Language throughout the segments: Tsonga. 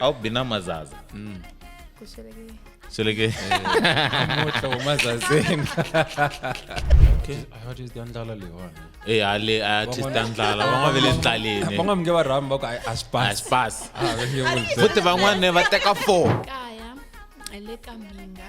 au bina mazaza kusherekea seleke namuhla womazazeni okay what is the ndlala leyiwani Eh, ale artist a ndlala van'wana ve le ndlaleni van'wani nge va rhami va ku "Ai, a swi a pasi swi pasi Ah, va nge vuli se. futhi van'wana va teka four kaya le ka minga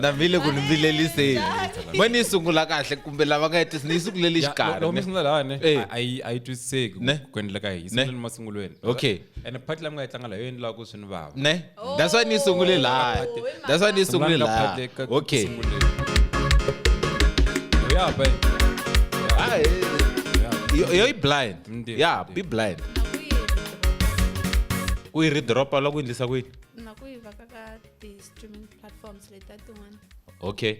na vile ku ni vileliseni ma ni yi sungula kahle kumbe lava nga hetisi ni yi sunguleli xikarhi loko mi ne? sungula lani Eh. a yi a yi twisiseki Ne. ku endleka yi sunguleni masungulweni Okay. ene phati lami nga yi tlanga layo yi endlaka ku swi ni vava ne that's why ni yi sungule laha that's why ni yi sungule Sungulani ka laha part eka- okay sunguleni. Yo, yeah, babe. Ah, eh, yo yo yi blind Ndiyo, ya ndiyo. be blind ku yi ridropa loko yi endlisa ku yini the streaming platforms leti ta tin'wana okay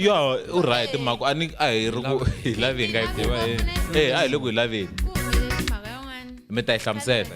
yo u right mhaka a ni a hi ri ku hi lavi hi nga yi kuma e a hi le ku hi laveni mi ta yi hlamusela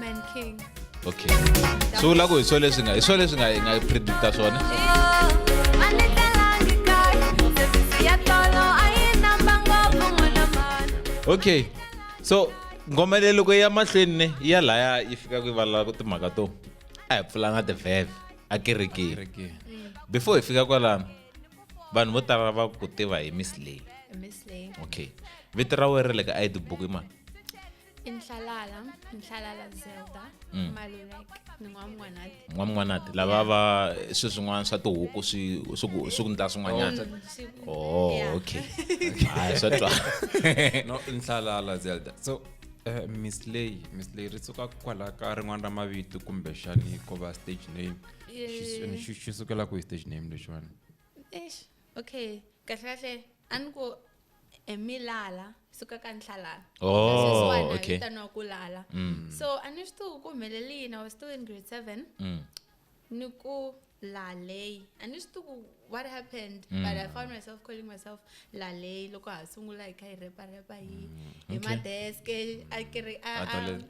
Man King. Okay. So la go hi swo leswi nga hi swo leswi nga hi nga predicta swona. Okay. So ngoma leyi loko ya mahlweni ne ya laya yi fika ku valala ku timhaka to a hi pfulanga tivheve a kerekeni before hi fika kwalano vanhu vo tala va ku tiva hi miss lay okay vito ra wena ra le ka id book i mani inhlalala inhlalala zelda mm. maluleke ni n'wamwanati n'wamwanati lava va swi swin'wana swa tihuku swi swi ku ndla swin'wanyana o oh, oh, okay hayi swa twa no inhlalala zelda so eh, miss lay miss lay ri suka kwala ka rin'wana ra mavito kumbexani ko va stage name xi sukela ku hi stage name lexiwani okay kahle kahle a ni ku eh, mi lala suka ka nhlalala oh, okay. vitaniwa ku lala mm. so a ni swi tivi ku humelele yini i was still in grade seven mm. ni ku lalei a ni swi tivi ku what happened mm. but i found myself calling myself lalei loko ha sungula hi kha hi repa repa hi mm. hi madeske a kiri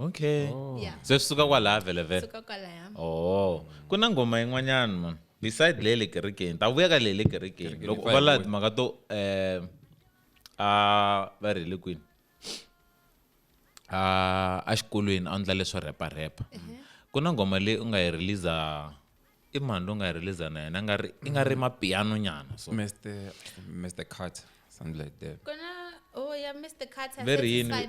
okay oh. yeah. se swi suka kwalaha vhele vhele suka kwalaya oh ku na ngoma yin'wanyana mani beside le le kerekeni ta vuya ka le le kerekeni loko u va laha timhaka to um a va ri le kwini a a xikolweni a ndla leswo rheparhepa ku na ngoma leyi u nga yi releasa i mani loyi u nga yi releasa na yena nga ri i nga ri mapiano nyana so mr mr carter something like that kona oh yeah mr carter very yini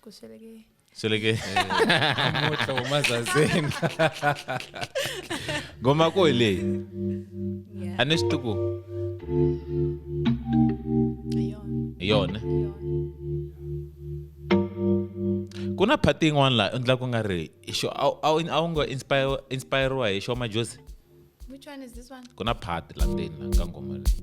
kusweleke sweleke namuntlha huma zazeni ngoma ko hi leyi Yeah. a ni swi tiku Ayona. hi yona ku na phati yin'wana laha u endla ku nga ri i xo- a wu- a wu- a wu nga inspire- inspiriwa hi xo majosi Which one is this one? ku na phati la ndzeni la ka ngoma leyi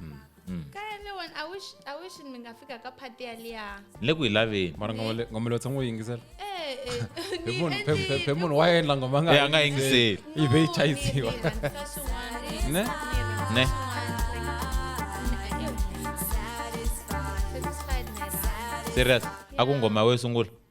mm. mm. le ku yi laveningomelo tshama u yingisela phe munhu wa endla ngoma nga a nga yingiseli yi ve yi chayisiwa ne ne serious a ku ngoma we sungula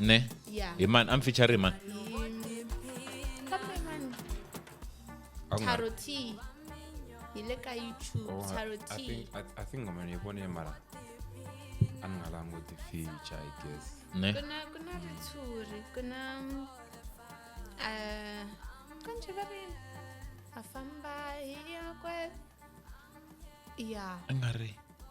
ne Yeah. hi mani a mi feature hi mani Kambe mani, A ku nga- Taro T. Hi le ka YouTube, Oh, I- Taro I T. think- I- I think ngoma ni yi vone mara a ni nga languti feature i guess ne Ku na- ku na ritshuri, ku na, mm, ah, ka njhe va ri, ha famba hi ya kwe- Yeah. a nga ri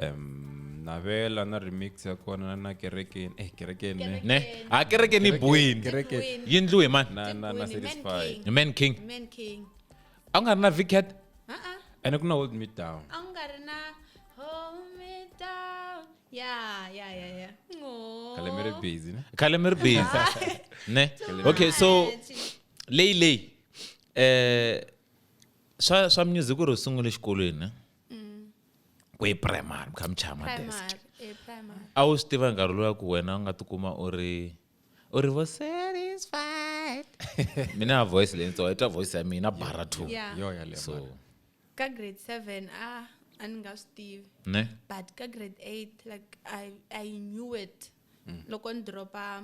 Em, navela na remix ya kona na kerekeni eh kerekeni ne. ne a kereke ni buwini Kereke. Wini. yi ndliwe hi mani na na na Wini, Man satisfied King. hi man king Man King. a ku nga ri na vicat Uh-uh. ene ku na hold me down A wu nga ri na hold me down. Yeah, yeah, yeah, yeah. Ngo. khale mi ri busy ne khale mi ri busy ne okay so leyi leyi eh swa swa music ku ri u sungule xikolweni ne? mm. kwe primary kha mchama desk eh, a wu swi tiva nkarhi lowa ku wena u nga tikuma u ri u ri vo satisfied mina voice leyi ntsongo i twa voice ya mina bara two so ka grade seven ah a ni nga swi tivi ne but ka grade eight like i, I knew it mm. loko ni dropa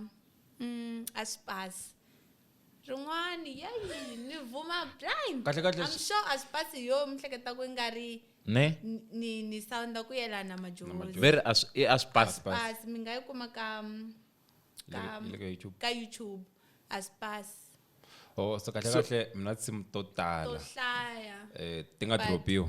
mm, a spas rin'wani yeyi ni vuma blind kahle kahle I'm sure a swi pasi yo mi hleketa ku nga ri ne ni- ni ni sounda ku yelana majozi very a swi eh, a swi pasi Pass. pasi mi nga yi kuma ka mm, ka Look- look at YouTube. ka youtube a swi pasi oh so kahle So- kahle mina tinsimu to to tala hlaya eh ti nga But- dropiwa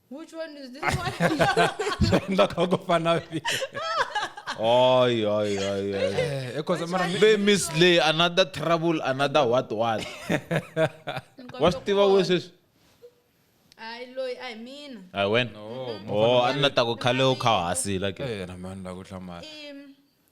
Which one is this one? Enda kwa gofana vi. Oi, oi, oi, oi. Eh, because mara mi- Ve Miss Lay, another trouble, another what, what. What's the way says? Ai loyi ai mina. I went. Oh, anna ta ku khale u kha hasi like. eh, na mani la ku hlamala. Im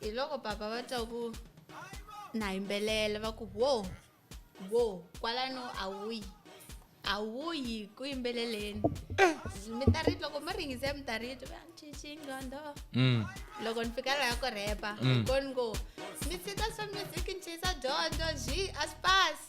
hi loko papa va twa ku na yimbelela va ku wo wo kwalano a wuyi a wuyi ku yimbeleleni eh. mi ta ri loko mi ringise mi ta ri twa ncixingqondo mm. loko ni fika laha ku rhepa mm. koni ngo mi tshika swa music ni chisa dyondzo xi a swi pasi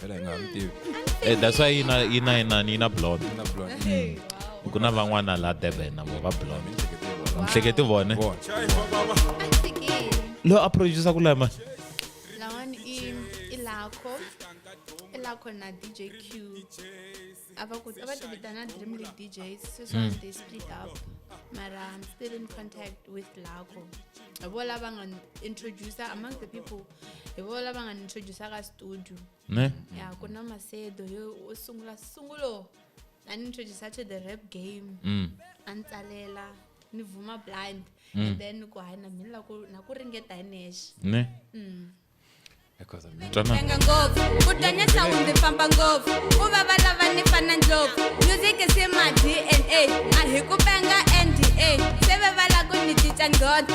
phela hi nga ha mi tivi Eh, that's why yina yina yina yina blonde na blonde Mm. ku na van'wana la durban na vo va blonde mihleketi vone Vona. loyi a producer ku lama lawani i i lakho i lakho na dj q a va ku a va ti vitana dream league djs sweswiwani they split up mara i'm still in contact with lakho hi vo lava nga introducer among the people hi vo lava nga ni introduce ka studio ne ya ku na masedo yo u sungula sungulo a ni introduce to the rap game mm. a ni tsalela ni vuma blind mm. and then ku hayi na mina na ku ringeta hi nexe ne mm. twananga ngopfu ku tanya sound ndzi famba ngopfu ku va va lava ni fana ndlopfu music se ma dna a hi ku penga nda se ve va la ku ni cinca nghodo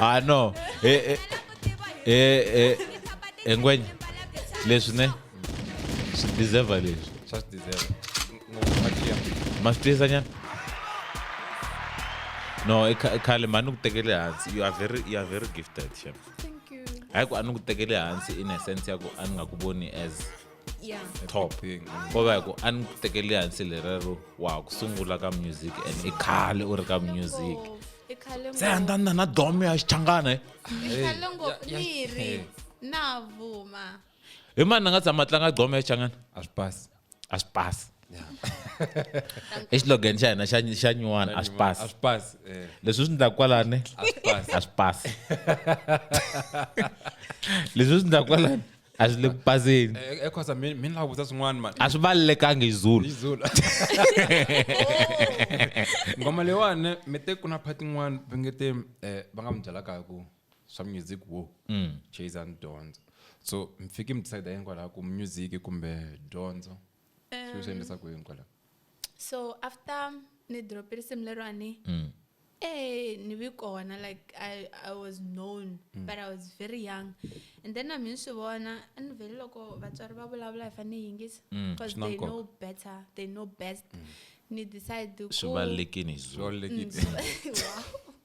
ah no eh, eh, eh, eh, eh, ngwenya leswi ne swi deserve leswi swa swi deserve ngopfakiya ma swi tiyisa nyana no i kha- i khale ma ni ku tekele hansi you are very, you are very gifted shem Thank you. hayi ku a ni ku tekele hansi in a sense ya ku a ni nga ku voni as yeah. top ko va ku a ni tekeli hansi lerero wa ku sungula ka music and i khale u ri ka music se andanda na domo ya xichangana navuma hi mani ni nga tshama tlanga domo ya xichangana a swi pasi a swi pasi exilogeni xa hina xa nyuwana a swi pasi eh. leswi swi ndlaku kwalani a swi pasi leswi swi ndlaku kwalani a swi le ku paseni Eh, eh, khosa mi mi ni lava ku vutisa swin'wana mani a swi valelekangi hi zulu izulu ngoma leyiwani mi te ku na phati yin'wana va nge te eh, va nga mi byelaka hi ku swa music wo chase and dyondzo so mi fike mi decide hinkwalaho ku music kumbe dyondzo swi swi endlisa ku yini kwala so after ni drop risimu lerwani mm. eh ni vi kona like i i was known mm. but i was very young and then a mi ni swi vona a ni vhele loko vatswari va vulavula hi fanele yingisa mm, because they know better they know best mm. ni decide ku swi valekini swi valekini mm,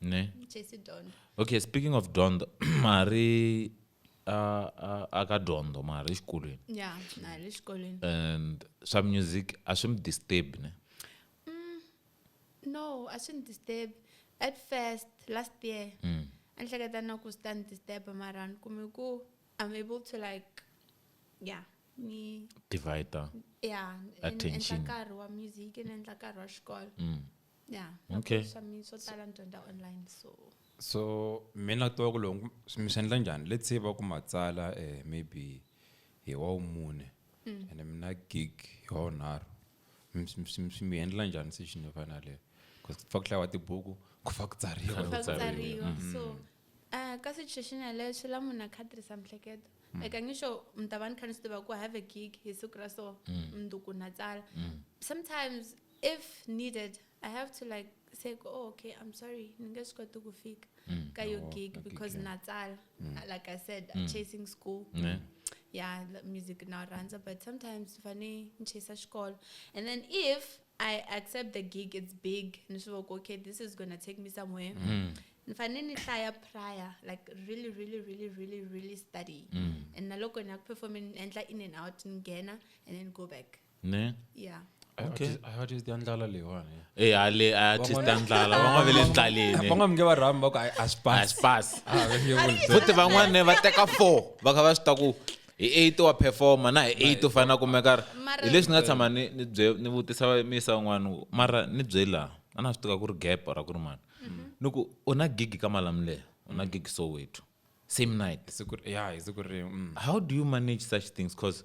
ne chase dondo okay speaking of dondo mari aka dondo mari exikolweni ya mari exikolweni and swa music a swi mi disturb ne mm, no a swi ni disturb at first last year mm. a ni hleketa na ku swi ta ni disturb mara ni kume ku i'm able to like yeah ni divider yeah attention nkarhi wa music ni endla nkarhi wa xikolo mm. yeah okay swa mi swo tala ni dyondza online so so mina to ku loko mi swi endla njhani let's say va ku matsala eh maybe hi wa wumune mm. and mina gig hi wa wunharhu mi endla njhani session yo fana leyo because ku fa ku hlayiwa tibuku ku fa ku tsariwa ku tsariwa mm. so uh, ka situation yaleyo swi la munhu a kha tirhisa mihleketo mm. like angisho mi ta va ni kha ni swi tiva ku have a gig hi siku ra so mundzuku na tsala sometimes if needed i have to like say oh okay i'm sorry ni nge swi koti ku fika Mm. ka yo Oh, gig ka gig, because yeah. na tsala Mm. like i said Mm. chasing school Yeah. yeah the music now runs but sometimes funny chase school and then if i accept the gig it's big and so like, okay this is gonna take me somewhere Mm. nifane nihlaya prior like really really really really really study Mm. and naloko nakuperforme endla in and out ngena and then go back ne yeah Okay. I heard is the ndlala leyiwani e eh, ale a artist ta ndlala van'wana ve le ndlaleni van'wana mi nge va rhami va ku a swi pasi a swi pasi ah, futhi van'wana va teka four va kha va swi ta ku hi eight wa performa na hi eight u fanele na kumeka ri hi leswi ni nga tshama ni ni bye ni vutisa misa un'wana mara ni bye laha a na swi tiva ku ri gap ra ku ri mani mhm. ni ku u na gigi ka malamuleyo u na gigi soweto same night mm. how do you manage such things because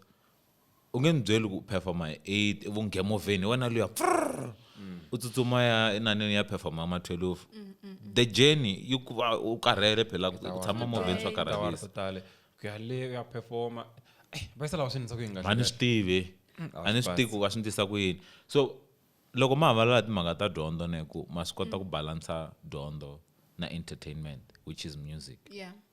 u nge ni byeli ku performa hi eight evunghemovheni hi wena luya frr u tsutsuma ya enaneni ya performa ma twelve the journey yi ku va u karhele phela ku tshama movheni swa tiawara karhalisa to tale ku ya le ku ya performa Eh, va yisa lava swi endlisa ku yini a ni swi tivi Mm, a a ni swi swi tivi ku va swi ndlisa ku yini so loko ma havalala timhaka ta dyondzo ne ku ma swi kota ku balansa dyondzo na entertainment which is music yeah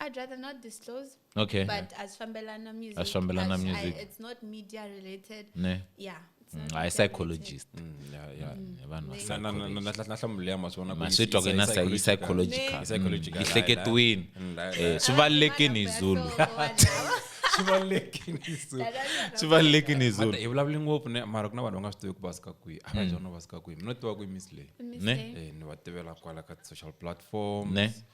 I'd rather not disclose. Okay. But as Fambelana music. As Fambelana as music. I, it's not media related. Ne. Yeah. Mm, I psychologist. Mm, yeah, yeah. Mm. Vanhu vahlamulela masona ku masitwa kena sa yi psychological. Psychological. Ihleketwini. Eh, swi valekini Zulu. Swi valekini Zulu. Swi valekini Zulu. Hi vulavula ngopfu ne mara ku na vanhu va nga swi tivi ku va suka kwihi. A va jona va suka kwihi. Mina tiva ku i Miss Lay. Ne? Eh, ni va tivela kwala ka social platforms. Ne?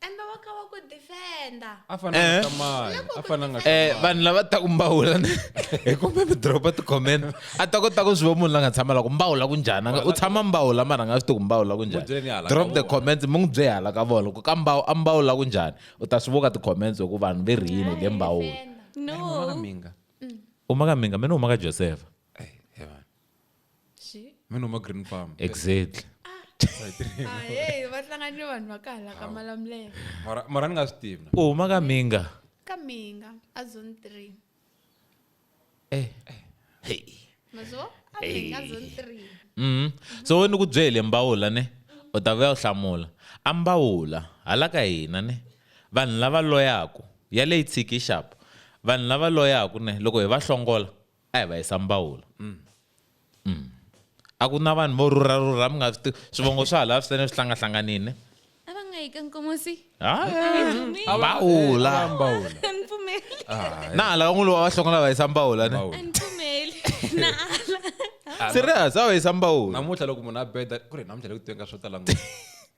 embe wa kha wa ku defenda a fananga Eh. tamali a fananga Eh, tamali vanhu lava taku mbawula hi kumbe mi dropa ti-comment a ta kota ku swi va munhu la nga tshama la ku mbawula ku njhani a nga- u tshama mbawula mara a nga swi tivi ku mbawula ku N'wi byele ni hala njhani ka drop the vona. comments mi n'wi bye hala ka vona ku ka mbawu a mbawula ku njhani u ta swi voka ti-comments hi ku vanhu ve rhini le mbawula Defender. no minga u maka minga mina u maka josefa Xi- mi noma green palm exactly ah, hey, va hlangani ni vanhu va ka hala ka malamulelo mara mara ni nga swi tivi na u huma ka minga ka minga a zone three eh hey mazo a minga zone three Mhm. so we ni ku byele mbawula ne u ta vuya u hlamula a mbawula hala ka hina ne vanhu lava loyaku ya leyi tshiki xapu vanhu lava loyaku ne loko hi va hlongola a hi va yisa mbawula mm. mm. a ku na vanhu vo rhurha rhurha mi nga swi tivi swivongo swa hala swi sene swi hlangahlanganile a va nga yi ka nkomosi mbawula na hala van'wulu va va hlonga lava yisa mbawula ne serious a va yisa mbawula namuntlha loko munhu a beda ku ri namuntlha loko tiwenga swo tala ngopfu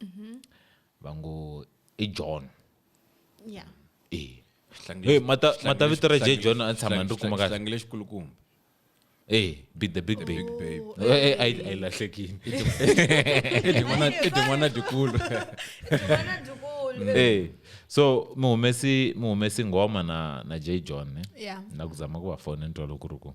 mhm. va ngo i john ya e Hey, mata mata vito ra J John a tshama ndzi kuma kahle. Hlangile xikulukumba. Eh, be the big babe. Eh, eh, I I lahlekile. Ede n'wana ede n'wana dikulu. N'wana dikulu. Eh. So muhumesi muhumesi ngoma na na J John ne. Yeah. Na kuzama ku va fona ntwa lokuru ku.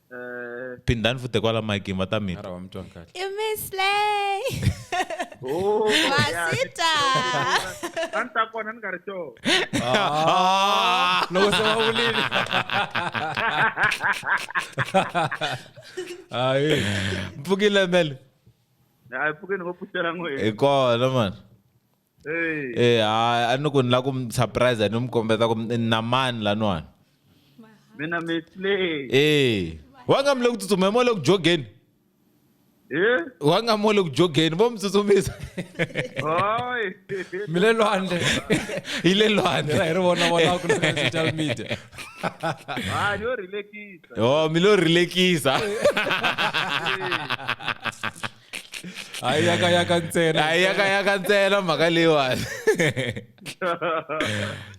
phindani futhi kwala mike va ta mi twa mi twa kahle i mislay oh, masita a ni ta kona ni nga ri too ah. loko se va vulile hayi mpfukile mele hayi mpfukile ni va pfuxela n'wini hi kona mani eh hayi a ni ku ni la ku mi surprise ni mi kombeta ku na mani laniwani mina misley eh wanga mi le ku tsutsumeni mo le ku jogeni eh wanga mo le ku jogeni vo mi tsutsumisa hoy mi le lwandle yi le lwandle hi ri vona vona ku na social media ah yo relaxisa oh mi lo relaxisa hayi yakayaka ntsena hayi yakayaka ntsena mhaka leyiwani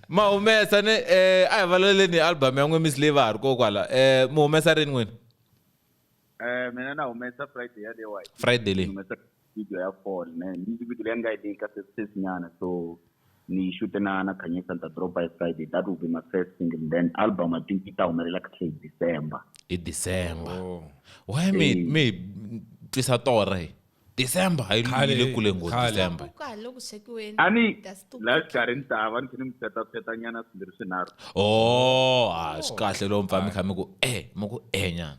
ma humesa ni eh a hi valeleni album ya n'we miss leyi va ha ri kokwala eh mi humesa rini n'wina eh mina na humesa friday ya leyiwa friday leyi humesa video ya fall ne music video leyi nga yi leyi ka sesisinyana so Ni xute na na Khanyisa ni ta drop-a hi Friday that will be my first single then album I think yi ta humelela kahle hi December. Hi December. Why mi hi mi hi twisa torha hi December hayi Khale, yi le kule ngopfu khale. December. Ku kahle loko swekiweni. A ni That's too la quick. xikarhi ni ta va ni kha ni mi pfeta-pfeta nyana swimbirhi swinharhu. Oh, ah swi kahle loko mi pfa mi kha mi ku eh mi ku eh nyana.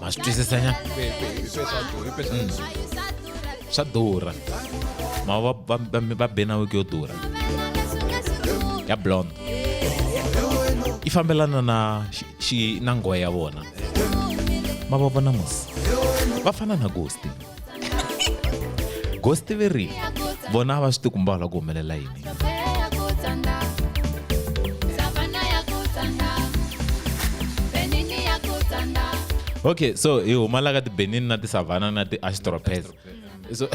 ma swi twisisa nyana swa durha ma va va va va be na wiki yo durha ya blond yi fambelana na xi- xi na nghohe ya vona ma va vona musi va fana na gosti ghost veri vona a va swi tikumba la ku humelela yini okay so hi huma la ka tibenin na tisavana na ti-astropes so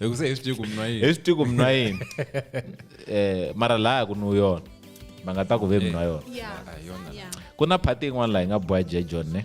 hi ku se hi swi tivi ku mnwa yini hi swi tivi ku mnwa yini eh mara laha ku nwu yona va nga ta ku ve mnwa yona Yeah. Ah, yona Yeah. ku na phati yin'wana laha yi nga boya jejon ne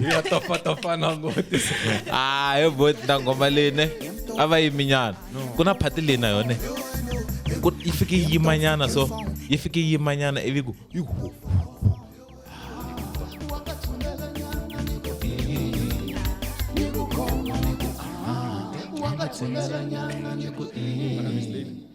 ya tofatofa na ngoti ah yo boti na ngoma leyi ne a va yiminyana ku na phati leyi na yone ku yi fike yi yimanyana so yi fike yi yimanyana ivi ku yi hu Thank you.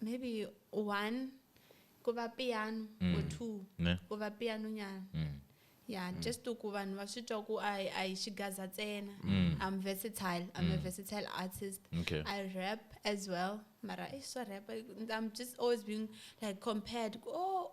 maybe one ku va piano mm. or two ne? ku va piano nyana mm. yeah mm. just ku vanhu va swi twa ku a hi xigaza ntsena mm. i'm versatile i'm mm. a versatile artist okay. i rap as well mara i swa rap i'm just always being like compared oh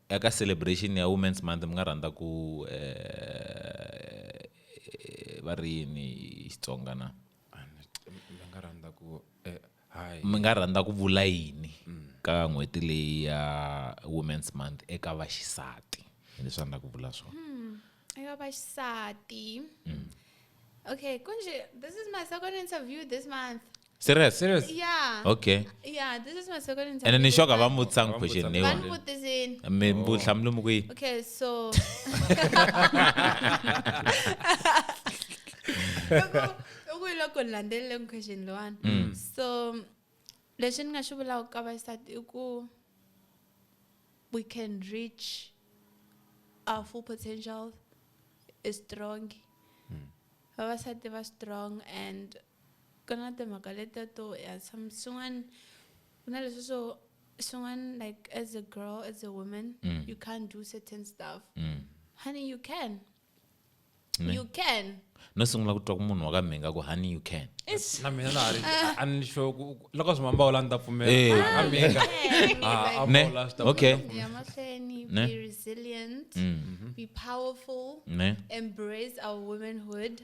Eka celebration ya Women's Month mi nga rhandza ku va ri yini hi Xitsonga na? Mi nga rhandza ku mi nga rhandza ku vula yini ka n'hweti leyi ya Women's Month eka vaxisati hi leswi a ni la ku vula swona hmm, eka vaxisati hmm. okay kunje this is my second interview this month serious Serious? yeah okay yeah this is my second interview ene ni shoka va mu vutisanga question Vani leyiwani vutisini mi mbu hlamula mu kwihi okay so loko hi loko ni landzelele question loyiwani Mm. so lexi ni nga xi vulaka ka vaxisati i ku we can reach our full potential is strong Mm. vavasati va strong and Ku na timhaka letiya to ya tshama swin'wana ku na leswi swo swin'wana like as a girl as a woman mm. you can't do certain stuff mm. honey you can ne? you can no sungula ku twa ku munhu wa ka mhinga ku honey you can na mina na hari ah. a ni sho loko swi mamba wala ni ta pfumela eh. a mhinga ah, ne okay ya mahlweni be resilient mm. mm-hmm. be powerful ne embrace our womanhood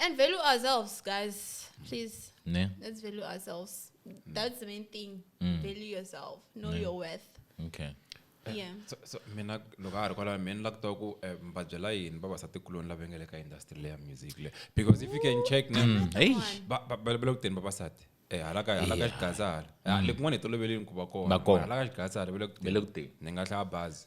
And value ourselves, guys. Please. Yeah. Let's value ourselves. That's the main thing. Mm. Value yourself. Know yeah. your worth. Okay. Eh, yeah. so, so mina loko a ha ri kwalaho mina ni la ku tiva ku eh, mi va byela yini vavasatikuloni lava nga le ka industry leya music le because if you can check na mm. balabela ku teni vavasati eh, hala ka hala ka xigaza hala ah, mm. lekun'wana hi toloveleni ku va kona hala ka xigaza hala vele ku teni ni nga hlaya bazi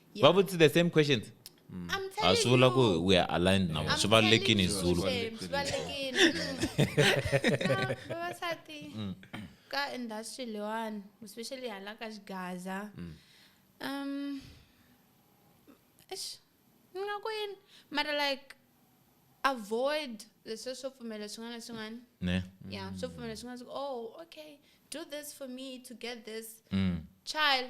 Yeah. va vutise the same questions I'm a telling swi vula ku you. we are aligned now I'm swi valulekini hi telling you, zulu Shem, swi valulekini. Ah, vavasati ka industry leyiwani especially hala ka xigaza um eish, ni nga ku yini mara like avoid leswi swo pfumela swin'wana na swin'wana ne yeah swo pfumela swin'wana swi ku, oh okay do this for me to get this Mm. child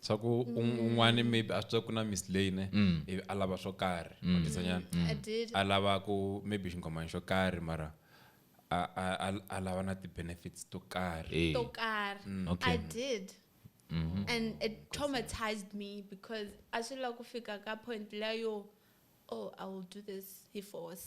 swa ku un- un'wani maybe a swi tiva ku na miss lay ne ivi a lava swo karhi matisanyana I did. a lava ku maybe xinghomani xo karhi mara a- a- a- a lava na ti-benefits to karhi Eh. Tokar. Okay. I did. And it traumatized me because I should like fika ka point la yo, oh, I will do this he force.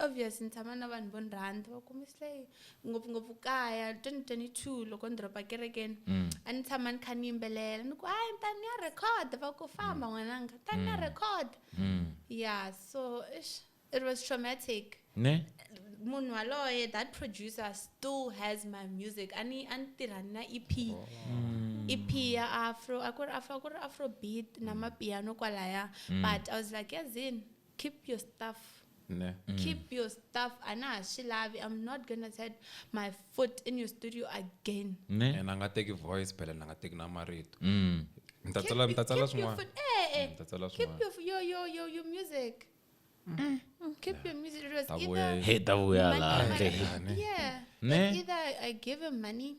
Obvious ni tshama na vanhu vo ni rhandza va kume slay ngopfungopfu kaya 2022 loko ni dropa kerekeni mm. a ni tshama ni kha ni yimbelela ni ku hayi ni ta ni ya record va ku famba mm. n'wananga ni ta ni ya mm. record ya so ish it was traumatic ne munhu waloye that producer still has my music a ni a ni tirha na ep oh. ep ya afro a ku ri afro a ku ri afro beat na mapiano kwalaya but i was like yazini keep your stuff ne mm. keep your stuff a na ha swi lavi i'm not gonna set my foot in your studio again ne and a nga teki voice phela na nga teki na marito mm. ni ta tsala ni ta tsala swin'wana eh, eh. ni ta tsala swin'wana keep your your your your music Mm. Keep your music. It was either hey, that we are like, yeah. Like either I give him money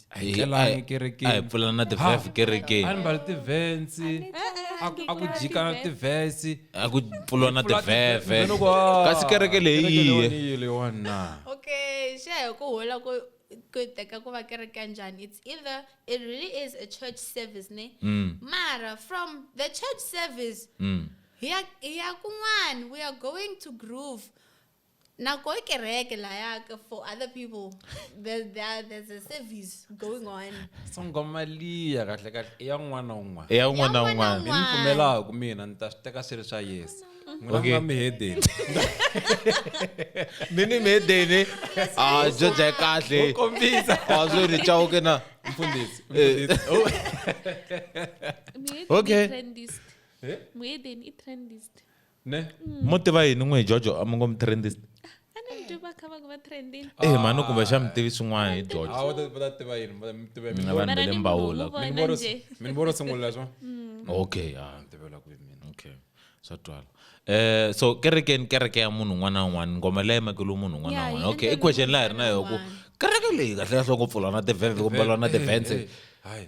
a hi tlelangi a hi kerekeni pfulana na tivhef a kerekeni ni mbali tivhensi a ku- a ku jika tivhesi a ku pfulwa na tivheve kasi kereke leyi yiye yiye leyiwani na okay xa hi ku hola ku ku yi teka ku va kereke ya njhani it's either it really is a church service ne Mm, mara from the church service mm. hi ya hi ya kun'wani we are going to groove nako e kereke like for other people there, there, there's a service going on sangoma liya kahle kahle i ya un'wana na un'wana ya un'wana na un'wana ni mi pfumelaku mina ni ta swi teka swi ri swa yesu n'wina nga mi hedeni mi ni mi hedeni a ah, byo bya kahle kombisa a ah, swi ri chawuke na mfundisi eh. okay muhedeni i trendist ne mo tiva yini n'wi hi jojo a mi ngo mi trendist a ni mi tiva kha va ku va trendini eh mhani kumbe xa mi tivi swin'wana hi jojo a va ta va ta tiva yini va ta mi tiva mina vanhu va le mbawula mi ni voro mi ni voro sungula swa mm. okay a ah, ni tivela ku mina okay swa twala eh so kerekeni kereke ya munhu un'wana na un'wana ngoma leyi makelo munhu un'wana na un'wana okay i question la hi ri na yo ku kereke leyi kahle kahle ngopfu lona tivheve kumbe lona tivhense hayi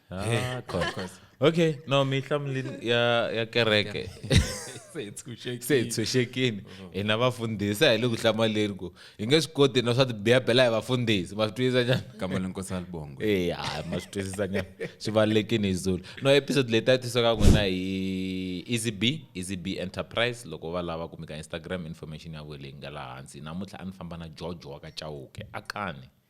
Ah, of course, of course. okay no mi hlamulini ya ya kereke se hi tshunxekile. se hi tshunxekile hina vafundhisi a hi le ku hlamaleni ku hi nge swi koti na swa tibiyabela hi vafundhisi ma swi twisisa njhani Kamba le nkosi alibongo. Eh, hayi ma swi twisisa njhani swi valekini hi zulu no episode leyi ta tisa ka n'wina hi easy b easy b enterprise loko va lava kumeka instagram information ya vona leyi nga laha hansi namuntlha a ni famba na george wa ka chauke a kani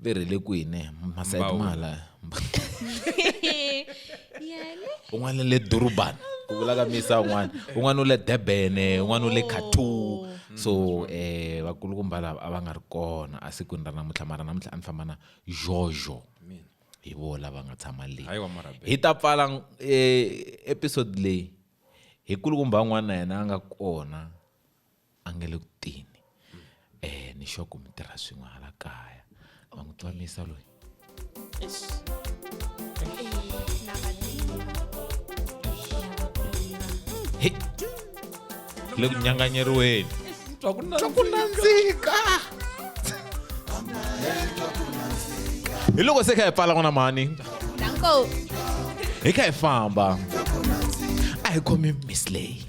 ve rhele kwini masayiti mahala un'wana le durban ku vulaka misa un'wana un'wana u le durban un'wana u le katu so um eh, vakulukumba lava a va nga ri kona a sikwini ra namuntlha mara namuntlha a ni famba na jojo hi vo lava nga tshama leyi hi ta pfala um episode leyi hi kulukumba un'wana na yena a nga kona a nga le ku tini um ni xoko mi tirha swin'we hala kaya va n'wi twamisa loyi he le ku nyanganyeriweni twa ku nandzika hi loko se kha hi pfala n'wana mhani Danko. hi kha hi famba a hi khomi miss leyi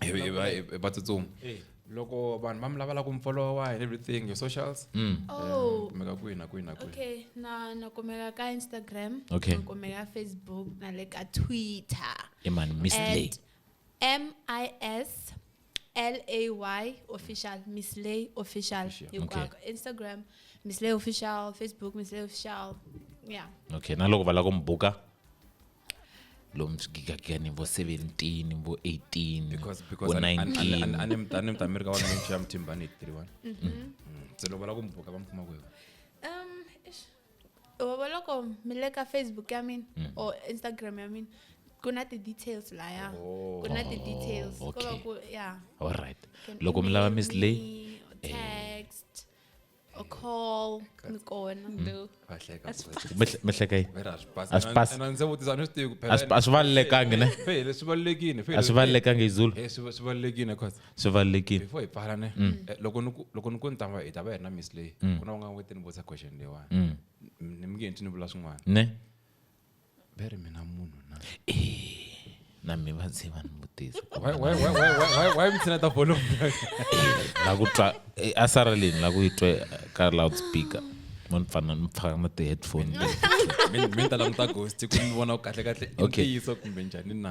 hi hi va hi va tsutsuma Eh, loko vanhu va mi lavela ku mi followa and everything your socials mm. oh kumeka kwihi na kwihi na kwihi okay na na kumeka ka instagram Okay. na kumeka ka facebook na le ka twitter e mani miss lay at m i s l a y official miss lay official Official, hinkwako instagram miss lay official facebook miss lay official yeah okay na loko va lava ku mi buka lomu gigagani vo 17 vo 18 vo 19anemtamirika wa minchi ya mthimbani 81 se loko va lava ku mi buka va mi kuma kwihi um va loko mi le ka facebook ya mina mm. or instagram ya mina ku na ti-details laya oh. ku na ti-details oh, ko va ku ya all right loko mi lava miss lay eh. text a call ni kona Lou. va hleka Mih- mihlekei Vera, a swi pasi. A swi pasi. Ena- ena ndzi vutisa a ni swi tivi ku phela. A swi- a swi valelekangi, ne? Fe, fe, leswi valelekini fe, a swi leswi- valelekangi hi zulu Eh, swi va- swi valelekini cause swi valelekile before hi pfala ne Mm. eh, loko ni ku- loko ni ku ni ta va hi ta va hi ri na miss leyi Mm. ku na un'wana wete ni vutisa question leyiwani Mm. ni mi nge ntwi ni vula swin'wana ne Be re mina munhu na. na mi va ndzi va ni vutiso ku Why, va why, why, why, why, why, why mitsina ta volume? la ku twa eh, a sara leni la ku yi twe ka loudspeaker mo ni pfana ni pfaka na ti-headphone leti. Mi mi ta languta ghost ku mi vona ku kahle kahle i Okay. ntiyiso kumbe njhani na.